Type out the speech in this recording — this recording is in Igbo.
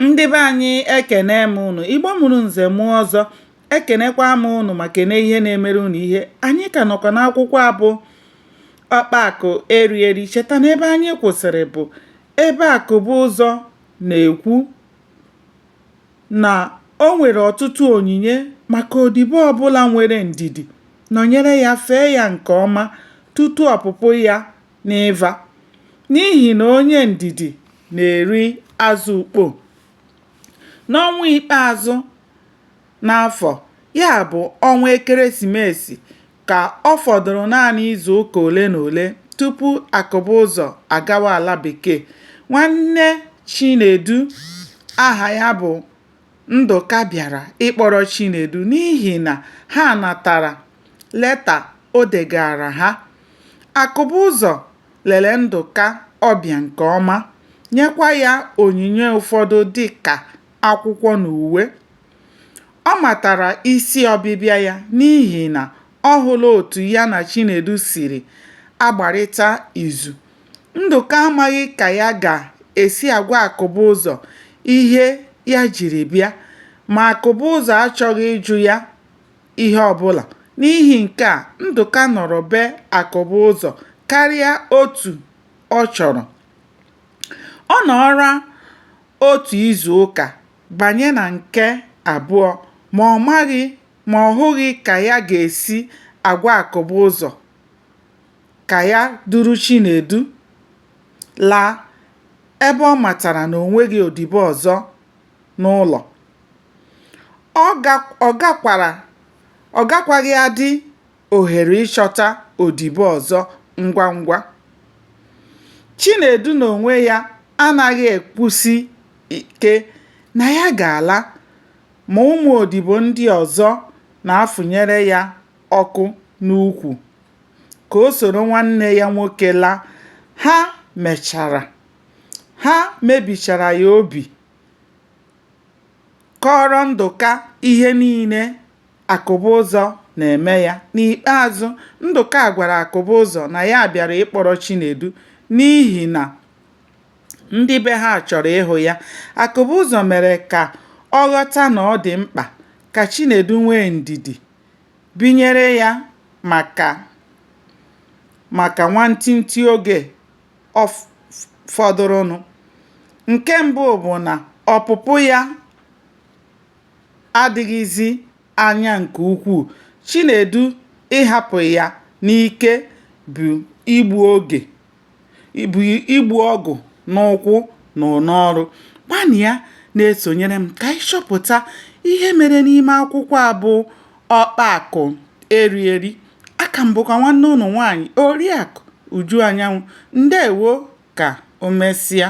ndị be anyị ekene m unu igbo mụrụ nze mụọ ọzọ ekenekwa m unu ma kene ihe na-emere unu ihe anyị ka nọkwa n'akwụkwọ a bụ ọkpa akụ eri eri cheta na ebe anyị kwụsịrị bụ ebe akụbụ ụzọ na-ekwu na o nwere ọtụtụ onyinye maka odibo ọbụla nwere ndidi nọnyere ya fee ya nke ọma tutu ọpụpụ ya n'ịva, n'ihi na onye ndidi na-eri azụ ukpo. N'ọnwa ikpeazụ n'afọ, ya bụ, ọnwa Ekeresimesi, ka ọ fọdụrụ naanị izu ụka ole na ole tupu Akụbụzọ agawa ala bekee, nwanne Chinedu aha ya bụ Ndụka bịara ịkpọrọ Chinedu n'ihi na ha natara leta o degaara ha. Akụbụzọ lere Ndụka ọbịa nke ọma, nyekwa ya onyinye ụfọdụ dị ka akwụkwọ na uwe. Ọ matara isi ọbịbịa ya n'ihi na ọ hụla otu ya na Chinedu siri agbarịta izu. Ndụka amaghị ka ya ga-esi agwa Akụbụzọ ihe ya jiri bịa, ma Akụbụzọ achọghị ịjụ ya ihe ọbụla. N'ihi nke a, Ndụka nọrọ be Akụbụzọ karịa otu ọ chọrọ. Ọ nọọla otu izu ụka banye na nke abụọ ma ma ọ hụghị ka ya ga-esi agwa Akụbụzọ. ka ya duru Chinedu laa ebe ọ matara na o nweghị odibo ọzọ n'ụlọ. Ọ gakwaghị adị ohere ịchọta odibo ọzọ ngwa ngwa. Chinedu n'onwe ya anaghị ekwusi ike na ya ga-ala ma ụmụ odibo ndị ọzọ na-afụnyere ya ọkụ n'ukwu. ka o soro nwanne ya nwoke laa, ha mechara, ha mebichara ya obi, kọọrọ Ndụka ihe niile Akụbụzọ na-eme ya. N'ikpeazụ, Ndụka gwara Akụbụzọ na ya bịara ịkpọrọ Chinedu n'ihi na ndị be ha chọrọ ịhụ ya. Akụbụzọ mere ka ọ ghọta na ọ dị mkpa ka Chinedu nwee ndidi. Binyere ya maka nwantịntị oge fọdụrụnụ. Nke mbụ bụ na ọpụpụ ya adịghịzi anya nke ukwuu. Chinedu ịhapụ ya n'ike bụ igbu oge. ịbụ igbu ọgụ n'ụkwụ na n'ọrụ gbalịa na-esonyere m ka anyị chọpụta ihe mere n'ime akwụkwọ a bụ ọkpa akụ eri eri aka m bụkwa nwanne unu nwaanyị oriakụ uju anyanwụ ndewo ka o mesịa